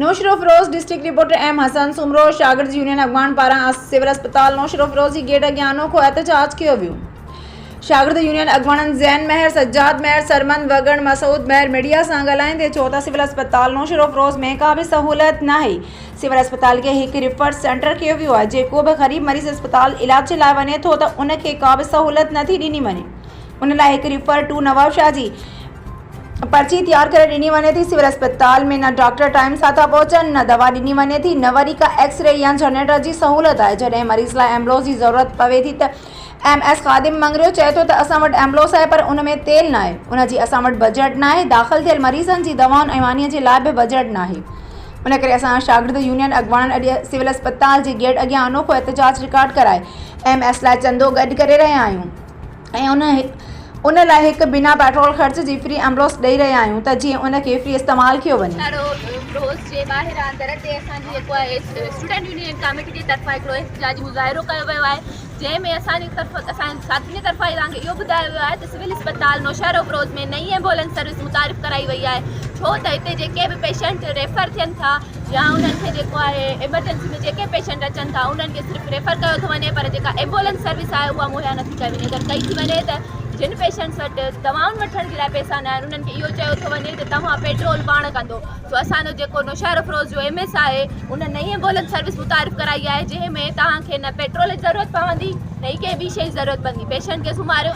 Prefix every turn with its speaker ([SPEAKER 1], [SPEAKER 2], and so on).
[SPEAKER 1] Naushahro Feroze, district reporter M Hassan, Soomro شاگرد union Afghan پاران civil اسپتال نوشهروفيروز جي گيٽ اڳيان انوکو احتجاج ڪيو ويو، شاگرد يونين اڳواڻن زين مهر، سجاد مهر، سرمند وڳڻ، مسعود مهر ميڊيا سان ڳالهائيندي چيو ته سول اسپتال نوشهروفيروز ۾ ڪا به سهولت ناهي، سول اسپتال کي هڪ ريفر سينٽر ڪيو ويو آهي، جيڪو به غريب مريض اسپتال علاج لاء وڃي ٿو ته ان کي ڪا به سهولت نٿي ڏني وڃي. ان لاء هڪ ريفر ٽو نوابشاهه جي پرچي تيار ڪري ڏني وڃي ٿي سول اسپتال ۾ نه ڊاڪٽر ٽائيم سان ٿا پهچن نه دوا ڏني وڃي ٿي نه وري ڪا ايڪس ري يا جنريٽر جي سهولت آهي جڏهن مريض لاء ايمبولينس جي ضرورت پوي ٿي ته ايم ايس خادم مڱريو چئي ٿو ته اسان وٽ ايمبولينس آهي پر ان ۾ تيل ناهي ان جي اسان وٽ بجيٽ ناهي داخل ٿيل مريضن جي دوائن ۽ مانيء جي لاء به بجيٽ ناهي ان ڪري اسان شاگرد يونين اڳواڻن اڄ سول اسپتال جي گيٽ اڳيان انوکو احتجاج رڪارڊ ڪرائي ايم ايس لاء چندو گڏ ڪري رهيا آهيون ۽ ان لاء هڪ بنا پيٽرول خرچ جي فري ايمبولينس ڏئي رهيا آهيون ته جيئن ان کي فري استعمال ڪيو وڃي. ڪارو ڪروز جي
[SPEAKER 2] ٻاهران در تي اسان جي جيڪو آهي اسٽوڊنٽ يونين ڪاميٽي جي طرفان هڪڙو احتجاجي مظاهرو ڪيو ويو آهي جنهن ۾ اسان جي طرف اسان جي ساٿين جي طرفان اسان کي اهو ٻڌايو ويو آهي ته سول اسپتال نوشهرو ڪروز ۾ نئين ايمبولينس سروس متعارف ڪرائي وئي آهي ڇو ته هتي جيڪي به پيشنٽ ريفر ٿين ٿا يا انهن کي جيڪو آهي ايمرجنسي ۾ جيڪي پيشنٽ اچن ٿا انهن کي صرف ريفر ڪيو ٿو وڃي پر جيڪا ايمبولنس سروس آهي اها مهيا نٿي ڪئي وڃي اگر ڪئي ٿي وڃي ته جن پيشنٽس وٽ دوائن وٺڻ جي لاء پئسا نه آهن انهن کي اهو چيو ٿو وڃي ته توهان پيٽرول پاڻ ڪندو سو اسان جو جيڪو نوشهر افروز جو ايم ايس آهي ان نئين ايمبولنس سروس متعارف ڪرائي آهي جنهن ۾ توهان کي نه پيٽرول جي ضرورت پوندي نه ئي ڪنهن ٻي شيء جي ضرورت پوندي پيشنٽ کي سمهاريو